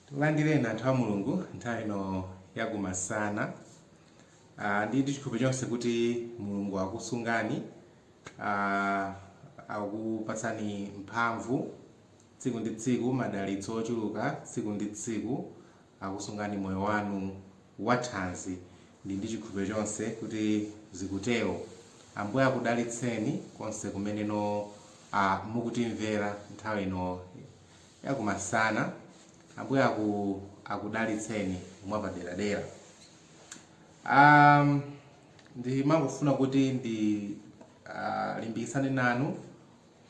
Tikulandireni anthu a Mulungu nthawi ino yakumasana. Ah, ndi chikhulupiriro chonse kuti Mulungu akusungani, ah, akupatsani mphamvu tsiku ndi tsiku, madalitso ochuluka tsiku ndi tsiku, akusungani moyo wanu wathanzi. Ndi ndi chikhulupiriro chonse kuti zikutero. Ambuye akudalitseni konse kumeneno ah, mukutimvera nthawi ino yakumasana ambuye aku akudalitseni mwapaderadera um, ndimangofuna kuti ndi uh, ndilimbikitsane nanu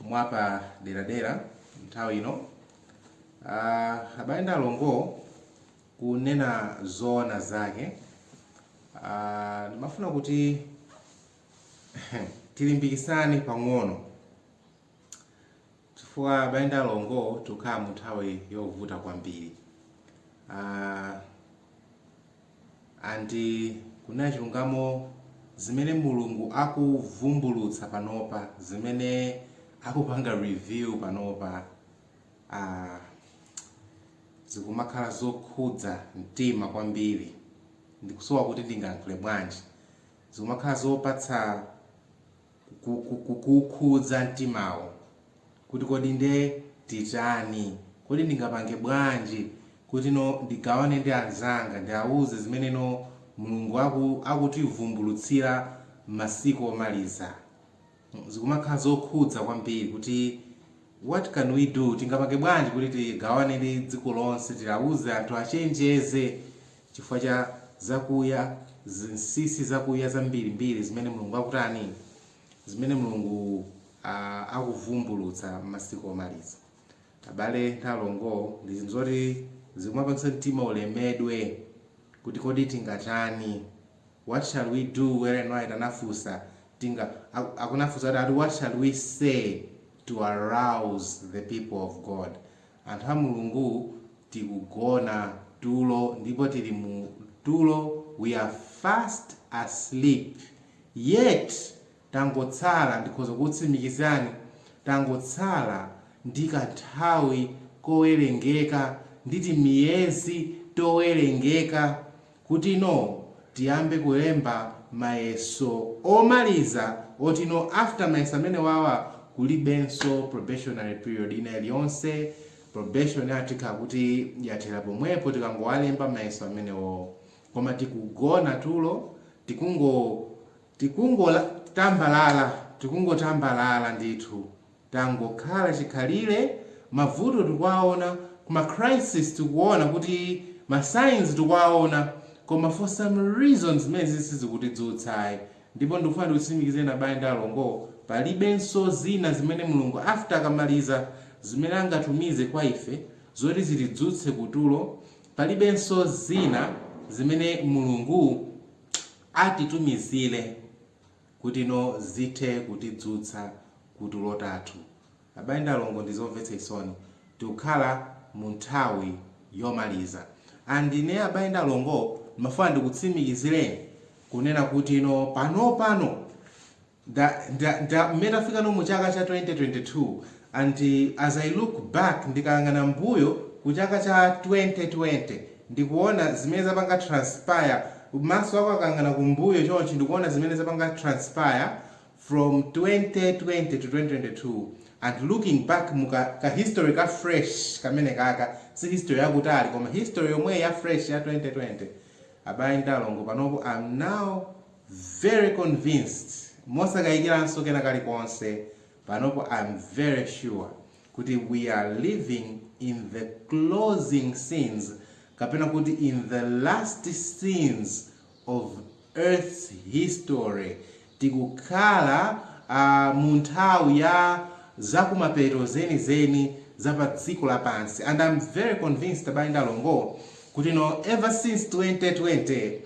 mwapaderadera nthawi ino uh, abale ndi alongo kunena zoona zake uh, ndimafuna kuti tilimbikitsane pang'ono chifukwa abale ndi alongo tikukhala mu nthawi yovuta kwambiri uh, and kunena chilungamo zimene mulungu akuvumbulutsa panopa zimene akupanga review panopa uh, zikumakhala zokhudza mtima kwambiri ndikusowa kuti ndingayankhule bwanji zikumakhala zopatsa kukhudza mtimawo kuti kodi nde titani, kodi ndingapange bwanji kuti no ndigawane ndi anzanga, ndiawuze zimeneno Mulungu aku akutivumbulutsira m'masiku omaliza. Zikumakhala zokhudza kwambiri kuti what can we do, tingapange bwanji kuti tigawane ndi dziko lonse, tiwauze anthu achenjeze. chifukwa cha zakuya, zinsinsi zakuya zambirimbiri zimene Mulungu akutani, zimene Mulungu a, akuvumbulutsa m'masiku omaliza. Abale ndi alongo, ndi zinthu zoti zikumapangitsa mtima ulemedwe kuti kodi tingatani, what shall we do, Ellen White anafunsa, tinga, aku, anafunsa kuti what shall we say to arouse the people of God? Anthu a Mulungu tikugona tulo ndipo tili mu tulo we are fast asleep yet tangotsala ndikhoza kukutsimikizirani tangotsala ndi kanthawi kowerengeka ndi timiyezi towerengeka kuti no tiyambe kulemba mayeso omaliza oti no after mayeso amenewawa kulibenso probationary period ina iliyonse probation yathu ikhala kuti yathera pomwepo tikangowalemba mayeso amenewowo koma tikugona tulo tikungo tikungola tambalala tikungotambalala ndithu Tangokhala chikhalire, mavuto tikuwaona, koma crisis tikuona kuti ma signs tikuwaona koma for some reason zimenezi si sizikutidzutsa ayi ndipo ndikufuna ndikutsimikizireni abale ndi alongo palibenso zina zimene Mulungu after akamaliza zimene angatumize kwa ife zoti zitidzutse kutulo, palibenso zina zimene Mulungu atitumizire. kutino zithe kutidzutsa kutulo tathu. Abale ndi alongo ndizomvetsa chisoni tikukhala munthawi yomaliza and ine abale ndi alongo ndimafuna ndikutsimikizileni kunena kutino panopano nda nda nda mmene tafikano muchaka cha 2022 And as I look back, ndikayang'ana mbuyo ku chaka cha 2020 ndikuona zimene zapanga transpire, maso ako akayang'ana kumbuyo chonchi ndikuona zimene zapanga transpire from 2020 to 2022 and looking back mu ka ka history ka fresh kamenekaka, si history yakutali koma history yomweyi ya fresh ya 2020, abale ndi alongo panopo I'm now very convinced mosakayikiranso kena kalikonse, Panopo I'm very sure kuti we are living in the closing scenes kapena kuti in the last scenes of earth's history, tikukhala aah mu nthawi ya zakumapeto zenizeni za pa dziko lapansi and I'm very convinced abale ndi alongo kutino ever since 2020,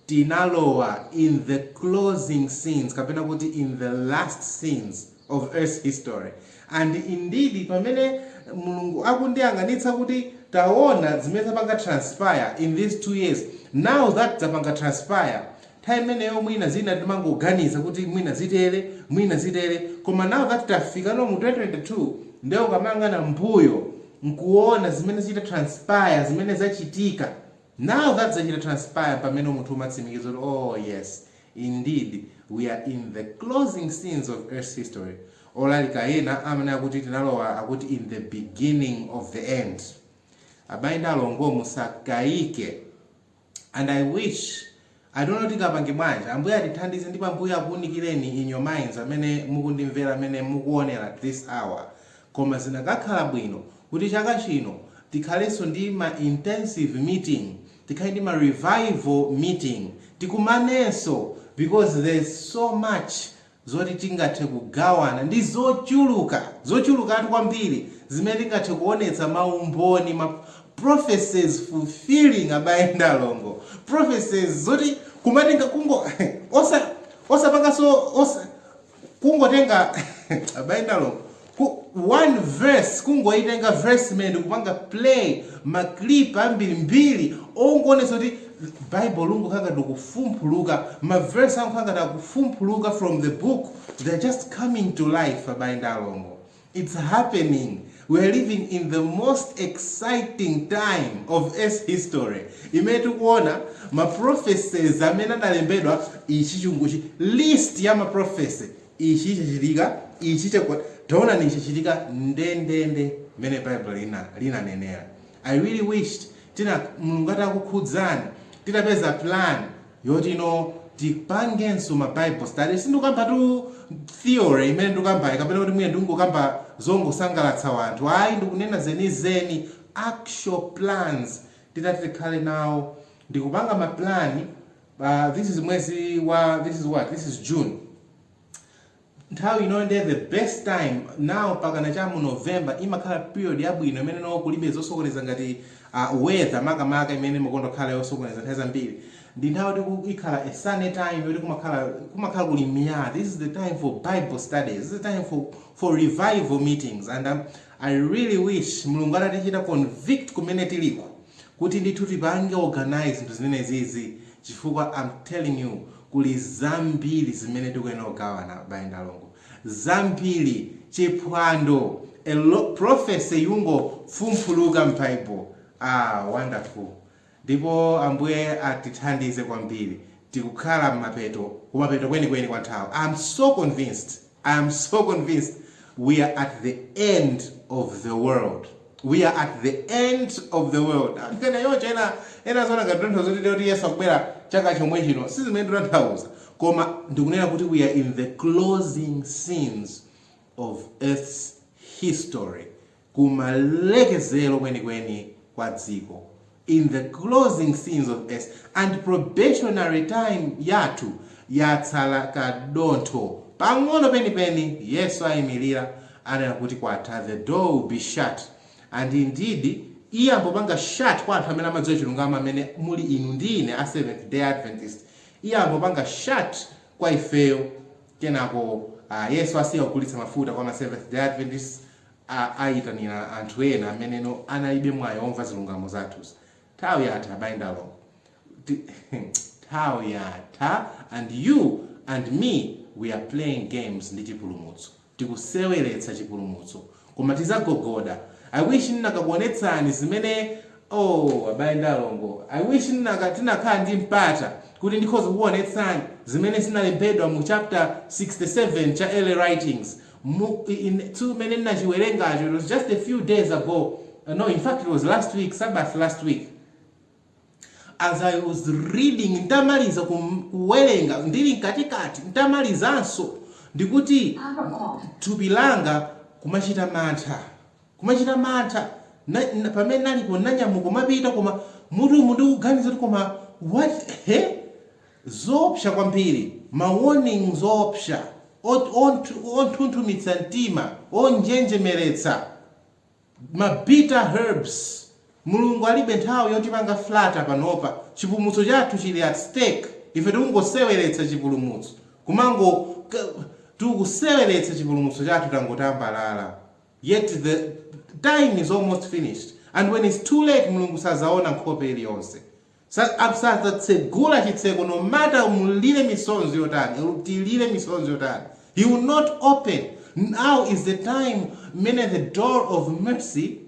Tinalowa in the closing scenes kapena kuti in the last scenes of earth's history and indeed pamene Mulungu akundiyang'anitsa kuti taona zimene zapanga transpire in these 2 years now that zapanga transpire time imeneyo mwina zina timangoganiza kuti mwina zitere mwina zitere koma now that tafikano mu 2022 nde ukamayang'ana mbuyo nkuona zimene zachita transpire zimene zachitika Now that zachita transpire mpamene munthu umatsimikiza kuti oh yes indeed we are in the closing scenes of earth's history, olalika ena amanena kuti tinalowa akuti in the beginning of the end. Abale ndi alongo musakaike and I wish I don't know tikapange bwanji ambuye atithandize ndipo ambuye akuunikileni in your minds amene mukundimvera amene mukuonera this hour koma zinakakhala bwino kuti chaka chino tikhalenso ndi ma intensive meeting tikhale ndi ma revival meeting tikumanenso because there's so much zoti tingathe kugawana ndi zochuluka, zochulukatu kwambiri zimene tingathe kuonetsa maumboni ma prophecies fulfilling abale ndi alongo prophecies zoti kumatenga kungo osa osapanganso osa kungotenga abale ndi alongo Ku, one verse kungoitenga verse imene ndikupanga play ma clip ambiri mbiri ongoonetsa kuti bible lungokhala ngati ukufumphuluka ma verse angokhala ngati akufumphuluka from the book they are just coming to life abale ndi alongo it's happening we are living in the most exciting time of earth's history imene tikuona ma prophecies amene adalembedwa ichi chunguchi list ya ma prophecy Ichi chachitika, ichi chagwa, taonani, ichi chachitika ndendende mmene Bible lina, linanenera. I really wished tina, Mulungu atakukhudzani, titapeza plan yoti, you know, tipangenso ma Bible study. Sindikukamba tu theory imene ndikukambayi, kapena kuti mwina ndikungokamba zongosangalatsa wanthu, ayi, ndikunena zenizeni, actual plans titati tikhale nawo, ndikupanga ma plan Uh, this is mwezi wa this is what this is June nthawi ino ndiye the best time now pakana cha mu November imakhala period yabwino imene no kulibe zosokoneza ngati uh, weather makamaka imene imakonda khala yosokoneza nthawi zambiri ndi nthawi yoti ku- imakhala a sunny time yoti kumakhala kumakhala kuli miyala this is the time for bible studies this is the time for, for revival meetings and um, i really wish mulungu atatichita convict kumene tiliko kuti ndithu tipange organise zinthu zimenezizi chifukwa am telling you kuli zambiri zimene tikuyenera kugawana abale ndi alongo. Zambiri! Chiphwando! A lo prophecy yongofumphuluka m'Bible. Ah, wonderful! Ndipo Ambuye atithandize kwambiri. Tikukhala m'mapeto, kumapeto kwenikweni kwa nthawi. I am so convinced! I am so convinced we are at the end of the world we are at the end of the world anthu ena choncho ena ena aziona ngati tikutanthauza kuti kuti yesu akubwera chaka chomwe chino si zimene tikutanthauza koma ndikunena kuti we are in the closing scenes of earth's history kumalekezero kwenikweni kwa dziko, in the closing scenes of earth, and probationary time yathu yatsala kadontho pang'ono penipeni, Yesu aimilira, anena kuti kwatha, the door will be shut, and indeed iyamba kupanga shut kwa anthu amene amadziwa chilungamo amene muli inu ndi ine a Seventh Day Adventist. Iyamba kupanga shut kwa ifeyo, kenako ah, Yesu asiya kugulitsa mafuta kwa ma Seventh Day Adventists, a ayitanira anthu ena ameneno analibe mwayi womva zilungamo zathuzi nthawi yatha abale ndi alongo nthawi yatha and you and me we are playing games ndi chipulumutso tikuseweretsa chipulumutso koma tizagogoda i wish ndinakakuonetsani zimene oo abale ndi alongo i wish nnaka tinakhala ndi mpata kuti ndikhoza kukuonetsani zimene zinalembedwa mu chapter 67 cha early writings Mu, in, tsiku limene nnachiwerengacho, it was just a few days ago, uh, no, in fact it was last week, Sabbath last week. As I was reading, ntamaliza kum- kuwerenga, ndili mkatikati, ntamalizanso, ndikuti thupi langa kumachita mantha kumachita mantha na, na, pamene ndinalipo ndanyamuka kumapita koma mutu umu ndikuganiza kuti koma what he Zoopsa kwambiri, ma warnings oopsa, ot onthu- onthunthumitsa mtima, onjenjemeretsa, ma bitter herbs. Mulungu alibe nthawi yotipanga flatter panopa. Chipulumutso chathu chili at stake. Ife tikungoseweretsa chipulumutso, kumango ka, tikuseweretsa chipulumutso chathu tangotambalala. Yet the time is almost finished and when it's too late Mulungu sazaona nkhope iliyonse. sadzatsegula chitseko no matter mulire misonzi yotani or tilire misonzi yotani he will not open now is the time mmene the door of mercy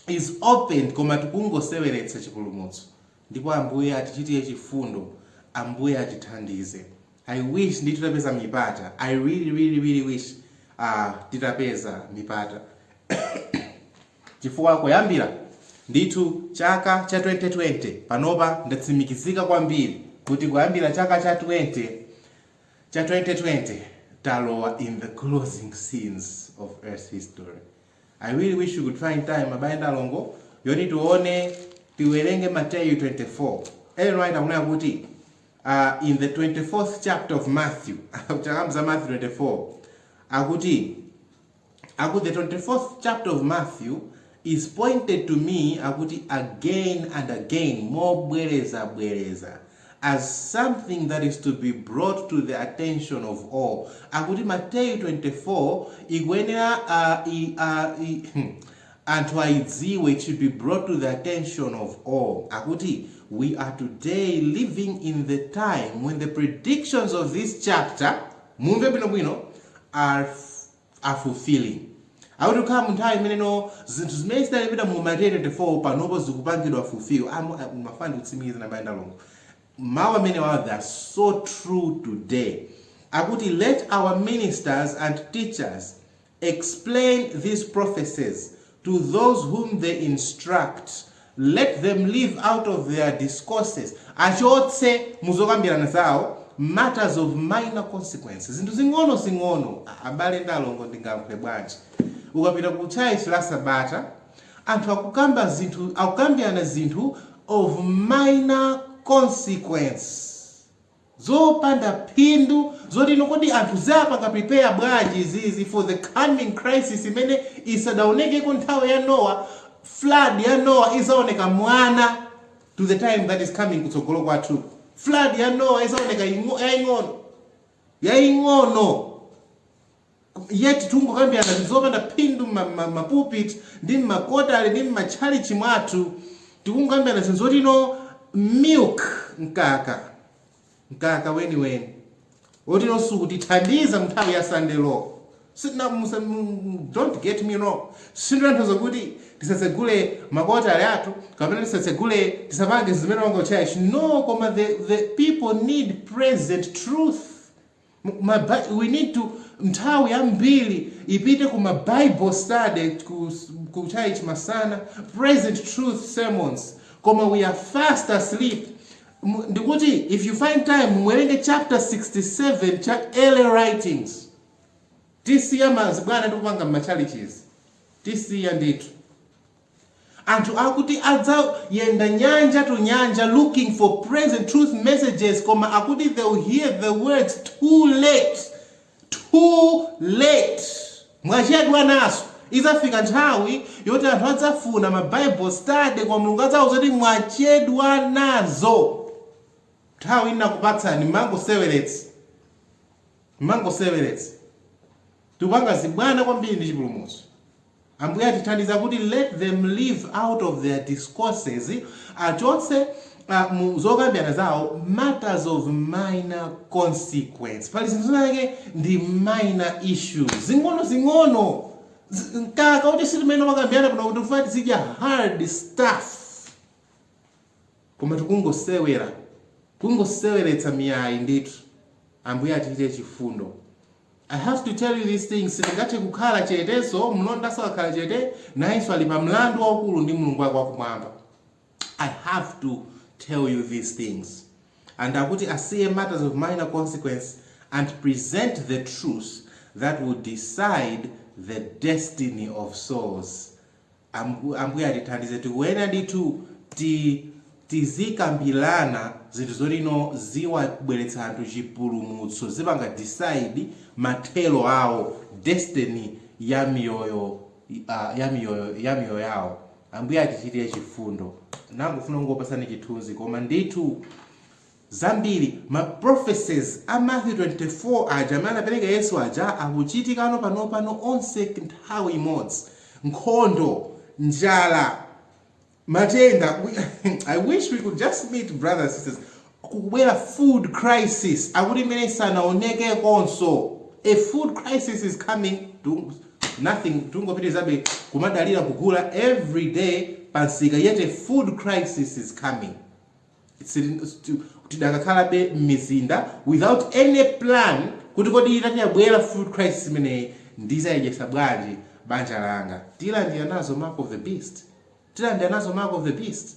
is opened koma tikungoseweretsa chipulumutso ndipo ambuye atichitire chifundo ambuye atithandize i wish ndi- titapeza mipata i really really really wish uh, titapeza mipata Chifukwa kuyambira ndithu chaka cha 2020 panopa ndatsimikizika kwambiri kuti kuyambira chaka cha 20 cha 2020 talowa in the closing scenes of earth history. I really wish we could find time abale ndi alongo yoti tione tiwerenge Mateyu 24. Ellen White akunena kuti uh, in the 24th chapter of Matthew akukamba za Matthew 24 akuti Akuti the 24th chapter of Matthew is pointed to me akuti again and again mobwereza bwereza as something that is to be brought to the attention of all akuti Mateyu 24 ikuyenera uh, i, uh, i, hmm, anthu aidziwe it should be brought to the attention of all akuti we are today living in the time when the predictions of this chapter mumve bwinobwino are are fulfilling akuti tikukhala mu nthawi imeneyo zinthu zimene zidalembedwa mu Mateyu 24 panopo zikupangidwa fulfill Am- ah, ndimafuna ndikutsimikizireni abale ndi alongo mawu amenewawa they are so true today akuti let our ministers and teachers explain these prophecies to those whom they instruct, let them leave out of their discourses, achotse muzokambirana zawo matters of minor consequence, zinthu zing'ono zing'ono. Abale ndi alongo ndingakambe bwanji? Ukapita ku church la sabata, anthu akukamba zinthu, akukambirana zinthu of minor consequence. zopanda phindu zoti no kodi anthu ziwapanga prepare bwanji izizi for the coming crisis imene isadaonekeko nthawi ya Nowa, flood ya Nowa izaoneka mwana to the time that is coming kutsogolo kwathu, flood ya Nowa izaoneka ing'o, yaing'ono, yaing'ono. yet tikungokambirana zinthu zopanda phindu mma- mma- mma pulpit ndi mmakwatale ndi mmatchalichi mwathu tikungokambirana zinthu zoti no milk mkaka mkaka weniweni woti no sukutithandiza mnthawi ya sunday law Sitina- musa- mu- don't get me wrong sindinanthoza kuti tisatsegule makwatale athu kapena tisatsegule tisapange zimene wanga church no koma the, the people need present truth Ma Bi, we need to nthawi yambiri ipite ku ma Bible study ku, ku church masana, present truth sermons. Koma we are fast asleep. M- Ndikuti if you find time muwerenge chapter 67 cha early writings. Tisiya mazibwana tikupanga m'matchalichizi. Tisiya ndithu. Anthu akuti adzayenda nyanja to nyanja looking for present truth messages koma akuti they will hear the words too late too late mwachedwa nazo idzafika nthawi yoti anthu adzafuna ma bible study koma mulungu adzawauza kuti mwachedwa nazo nthawi ndinakupatsani mmangoseweretsa mmangoseweretsa tikupanga zibwana kwambiri ndi chipulumutso. Ambuye atithandiza kuti let them leave out of their discourses achotse uh, mu zokambirana zawo matters of minor consequence. Pali zinthu zinazake ndi minor issues zing'ono zing'ono Z- mkaka kuti si zimene timakambirana kuno kuti tikufuna tizidya hard stuff koma tikungosewera kungoseweretsa mipata ndithu ambuye atichitire chifundo I have to tell you these things, sindingathe kukhala chetenso, mlondanso akakhala chete, nayenso ali pa mlandu waukulu ndi Mulungu wake wakumwamba. I have to tell you these things. And akuti asiye matters of minor consequence and present the truth that will decide the destiny of souls. Ambu, Ambuye atithandize tikuyenera ndithu ti tizikambilana zinthu zoti no ziwabweretsa anthu chipulumutso zipanga decide mathero awo destiny ya miyoyo uh, ya miyoyo ya miyoyo yawo ambuye atichitire chifundo ndangofuna kungokupatsani chithunzi koma ndithu zambiri, ma prophecies a Matthew 24 aja amene anapereka Yesu aja akuchitikano panopano onse nthawi imodzi, nkhondo, njala, matenda, I wish we could just meet brothers and sisters, kukubwera food crisis akuti imene isanaonekekonso, a food crisis is coming to nothing tingopitirizabe kumadalira kugula everyday pa nsika yet a food crisis is coming. tidakhalabe m'mizinda without any plan kuti kodi itati yabwera food crisis imeneyi ndizayidyesa bwanji banja langa tilandira nazo mark of the beast tilandira nazo mark of the beast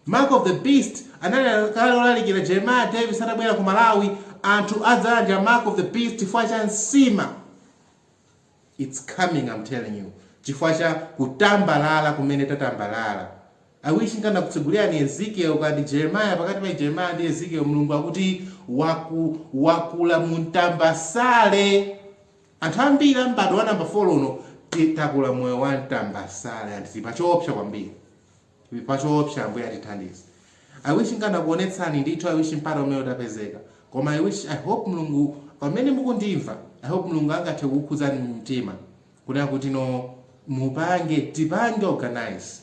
mark of the beast ananena kale olalikira jeremiah davis atabwera ku malawi anthu adzalandira mark of the beast chifukwa cha nsima Its coming am telling you chifukwa cha kutambalala kumene tatambalala. I wish nkanakutsegulirani Ezekiel ka ndi Jeremiah pakati pa Jeremiah ndi Ezekiel Mulungu akuti wakula mu ntambasale. Anthu ambiri a m'bado wa number 4 uno takula moyo wa ntambasale and tili pa choopsa kwambiri. pa choopsa ambuye atithandize. I wish nkanakuonetsani ndithu I wish mpata umene utapezeka. Koma I hope Mlungu pamene mukundimva I hope Mlungu angathe kukukhudzani mtima kunena kuti no mupange tipange organise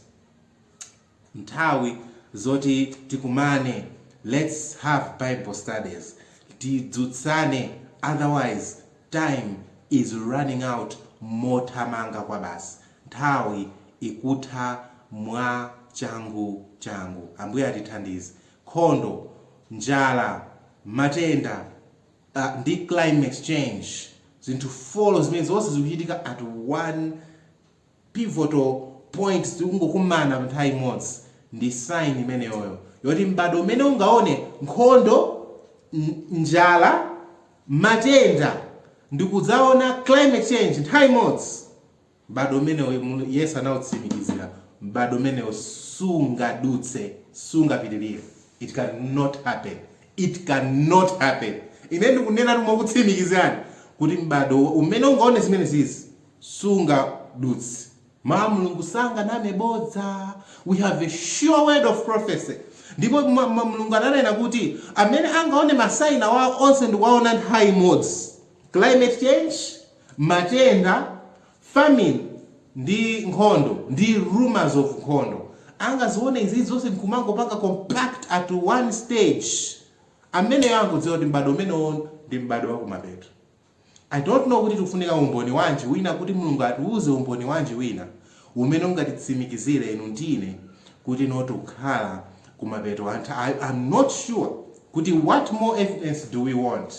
nthawi zoti tikumane lets have bible studies tidzutsane otherwise time is running out mothamanga kwabasi. Nthawi ikutha mwa changu changu. Ambuye atithandize. Nkhondo, njala, matenda, ndi climate change, zinthu folo zimene zonse zikuchitika at one pivotal point, zikungokumana nthawi imodzi, ndi sign imeneyoyo yoti m'bado umene ungaone nkhondo, njala, matenda, ndikudzaona climate change nthawi imodzi. M'bado umenewo, Yesu anautsimikizira, m'bado umenewo sungadutse, sungapitirire. It can not happen. It can not happen. Ine ndikunena mokutsimikizirani kuti m'bado umene ungaone zimene zizi sungadutse. Mawu a Mulungu sanganame bodza. We have a sure word of prophecy. Ndipo Mulungu ananena kuti amene angaone masaina wawo onse ndikuwaona nthawi imodzi. Climate change, Matenda, famine, ndi nkhondo, ndi rumours of nkhondo, angaziwone izi zonse nkumangopanga compact at one stage. Ameneyo angodziwa kuti m'bado umenewo ndi m'bado wa kumapeto. I don't know kuti tikufunika umboni wanji wina kuti Mulungu atiuze umboni wanji wina umene ungatitsimikizire inu ndi ine kuti you know tikukhala kumapeto a nthawi. I am not sure kuti what more evidence do we want?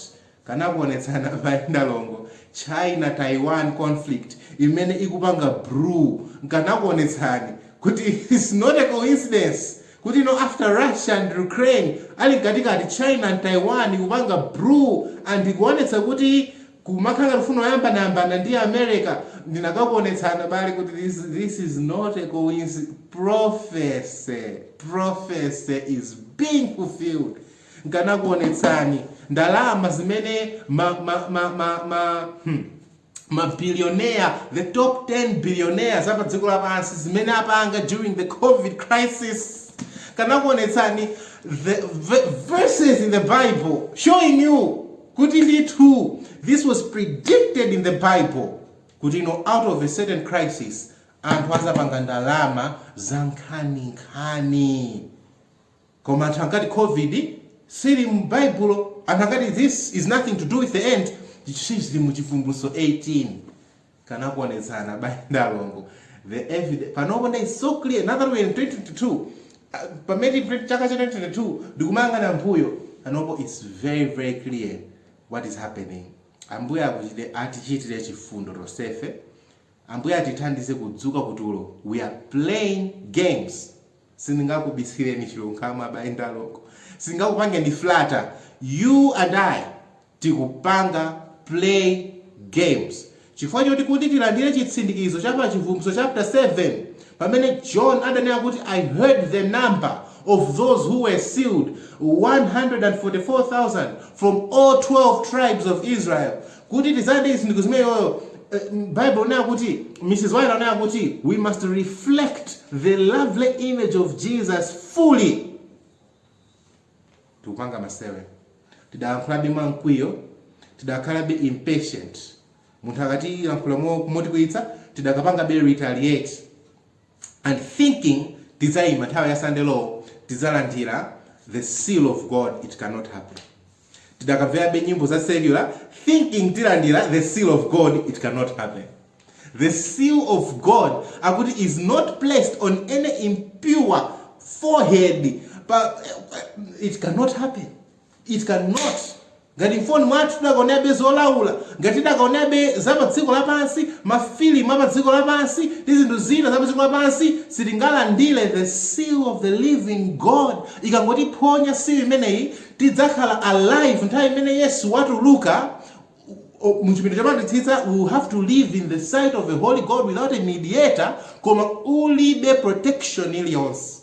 Kanakuonetsani abale ndi alongo China Taiwan conflict imene ikupanga brew nkanakuonetsani kuti it's not a coincidence kuti you know after Russia and Ukraine ali mkatikati China and Taiwan ikupanga brew and ikuonetsa kuti kumakhala ngati akufuna ayambaneyambane ndi America ndinakakuonetsani abale kuti this this is not a coinci prophecy prophecy is being fulfilled Nkanakuonetsani ndalama zimene ma ma ma ma ma hmm, ma billionaire the top 10 billionaires apa dziko lapansi zimene apanga during the covid crisis. Kanakuonetsani the v- verses in the Bible showing you kuti ndithu this was predicted in the Bible kuti you know, out of a certain crisis anthu azapanga ndalama zankhaninkhani. Koma anthu ankati Covid siili mu Baibulo, anthu ankati this is nothing to do with the end, chili mu Chivumbulutso 18. Kanakuonetsani abale ndi alongo. The evidence panopo nde is so clear now that we are in 2022. Uh, pamene tili chaka cha 2022 ndikumayang'ana m'mbuyo panopo it's very very clear what is happening. Ambuye akuchite atichitire chifundo tonsefe. Ambuye atithandize kudzuka kutulo. We are playing games. sindingakubisileni chilungamo abale ndi alongo sindingakupangeni flatter you and i tikupanga play games chifukwa choti kuti tilandire chitsindikizo cha pa chivumbulutso chapter 7 pamene john adanena kuti i heard the number of those who were sealed 144000 from all 12 tribes of israel Kuti tidzalandire chitsindikizo chimenecho Bible ikunena kuti Mrs. White anena kuti we must reflect the lovely image of Jesus fully. Tikupanga masewera. Tidakalankhulabe mwa mkwiyo. Tidakakhalabe impatient. Munthu akatilankhula motikwiyitsa, tidakapangabe retaliate. and thinking tidzaima nthawi ya sunday law tidzalandila the seal of God it cannot happen tidakavelabe nyimbo za secular thinking tilandila the seal of God it cannot happen the seal of God akuti is not placed on any impure forehead pa, it cannot happen It can not. Ngati m'foni mwathu tidakaonerabe zolaula, ngati tidakaonerabe za pa dziko lapansi, ma filimu a pa dziko lapansi, ndi zinthu zina za pa dziko lapansi, sitingalandire the seal of the living God. Ikangotiphonya seal imeneyi, tidzakhala alive nthawi imene Yesu watuluka mu chipinda chopatulikitsitsa, we will have to live in the sight of a holy God without a mediator, koma ulibe protection iliyonse.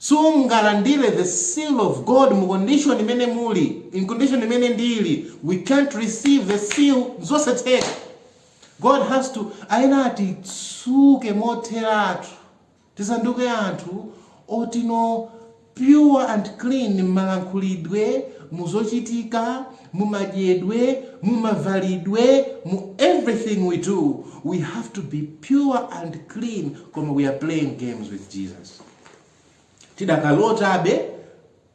Sungalandire the seal of God mu condition imene muli, in condition imene ndili, we can't receive the seal, n'zosatheka. God has to, ayenera atitsuke motheratu, tisanduke anthu oti no pure and clean mmalankhulidwe, mu zochitika, mu madyedwe, mu mavalidwe, mu everything we do, we have to be pure and clean koma we are playing games with Jesus. tidakalotabe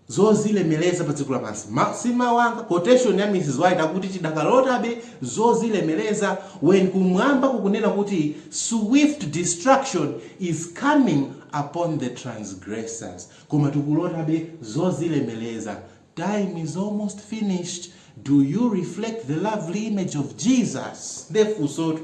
zozilemeleza pa dziko lapansi Ma, si mawu anga quotation ya mrs white akuti tidakalotabe zozilemeleza when kumwamba kukunena kuti swift destruction is coming upon the transgressors koma tikulotabe zozilemeleza time is almost finished do you reflect the lovely image of jesus nde funsotu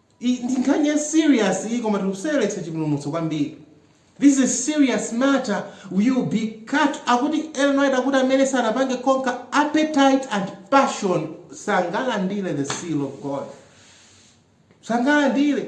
I- ndi nkhani ya serious iyi koma tikuseweretsa chipulumutso kwambiri this is a serious matter we will be cut akuti Ellen White akuti amene sanapange conquer appetite and passion sangalandire the seal of god sangalandire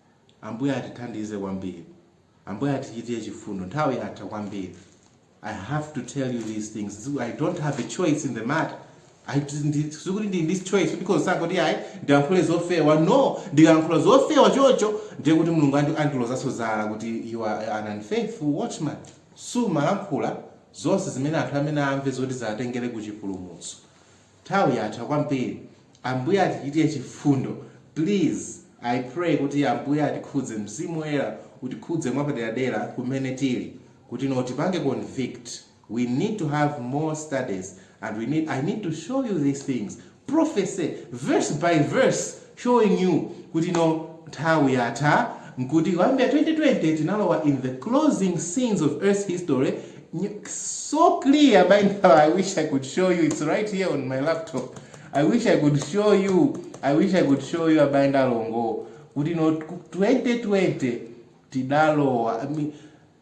Ambuye atithandize kwambiri. Ambuye atichitire chifundo. Nthawi yatha kwambiri. I have to tell you these things. I don't have a choice in the matter. I ndi- sikuti ndili ndi choice because zoti ayi ndilankhule zofewa no ndikalankhula zofewa chocho ndiye kuti mulungu andi- andilozanso zala kuti you are an unfaithful watchman sumalankhula zonse zimene anthu ayenera amve zoti ziwatengere ku chipulumutso Nthawi yatha kwambiri ambuye atichitire chifundo please i pray kuti ambuye atikhudze mzimu woyera utikhudze mwapaderadera kumene tili kuti no tipange convict we need to have more studies and we need i need to show you these things prophecy verse by verse showing you kuti no nthawi yatha nkuti kuyambira 2020 tinalowa in the closing scenes of earth's history so clear by now i wish i could show you it's right here on my laptop i wish i could show you i wish i could show you abayi ndalongo kuti no 2020 tidalowa I mean,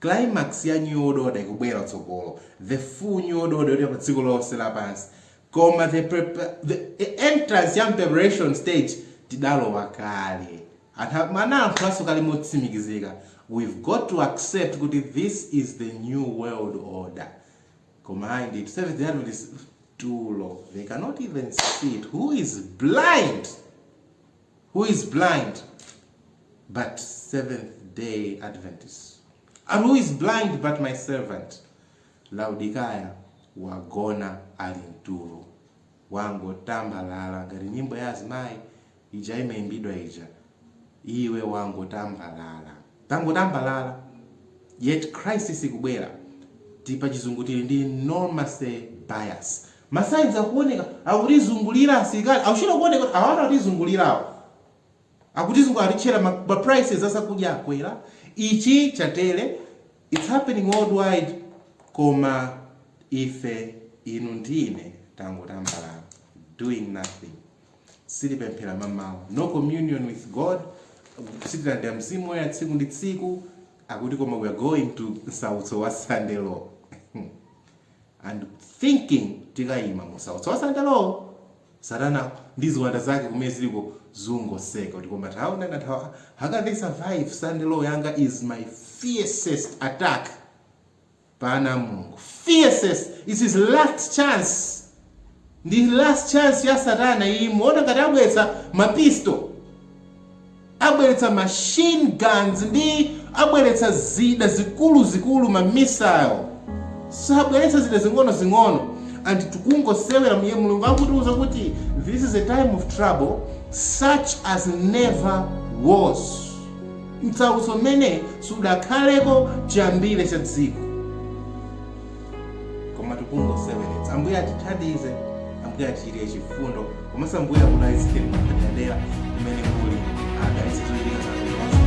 Climax ya New World Order ikubwera kutsogolo, the full New World Order yoti pa dziko lonse lapansi, koma the the entrance ya preparation stage tidalowa kale. Anthu analankhulanso kale motsimikizika, we've got to accept kuti this is the New World Order. Koma ayi ndithu, Seventh Day Adventist tulo, they cannot even see it, who is blind? who is blind but Seventh Day Adventist and who is blind but my servant Laodikaya wagona ali mtulo wangotambalala ngati nyimbo ya azimayi ija imaimbidwa ija iwe wangotambalala Tangotambalala yet crisis ikubwera tili pa chizungulire tili ndi normalcy bias ma signs akuoneka akutizungulira asilikali akuchita kuoneka kuti awatu atizungulirawa akutizungulira atitchera ma prices azakudya akwera ichi chatere it's happening worldwide koma ife inu ndine tangotambalala doing nothing sitipemphera mamawa no communion with god sitilandira mzimu woyera tsiku ndi tsiku akuti koma we are going to msautso wa sunday law and thinking tikayima mu msautso wa sunday law satana ndi ziwanda zake kumene ziliko zungoseka kuti koma taona na tawa how can they survive sunday law yanga is my fiercest attack pa ana a Mulungu. Fiercest, it's his last chance. Ndi last chance ya satana iyi, muona ngati abweretsa ma pistol, abweretsa machine guns ndi abweretsa zida zikulu zikulu ma missile. Sabweretsa zida zing'ono zing'ono and tikungosewera m'ye Mulungu akutiuza kuti this is a time of trouble such as never was. Msautso umene sudakhaleko chiyambire cha dziko. Koma tikungoseweretsa. Ambuye atithandize, Ambuye atichitire chifundo, komanso Ambuye akudalitseni mwapadera kumene muli, adalitse zochitika zanu zonse.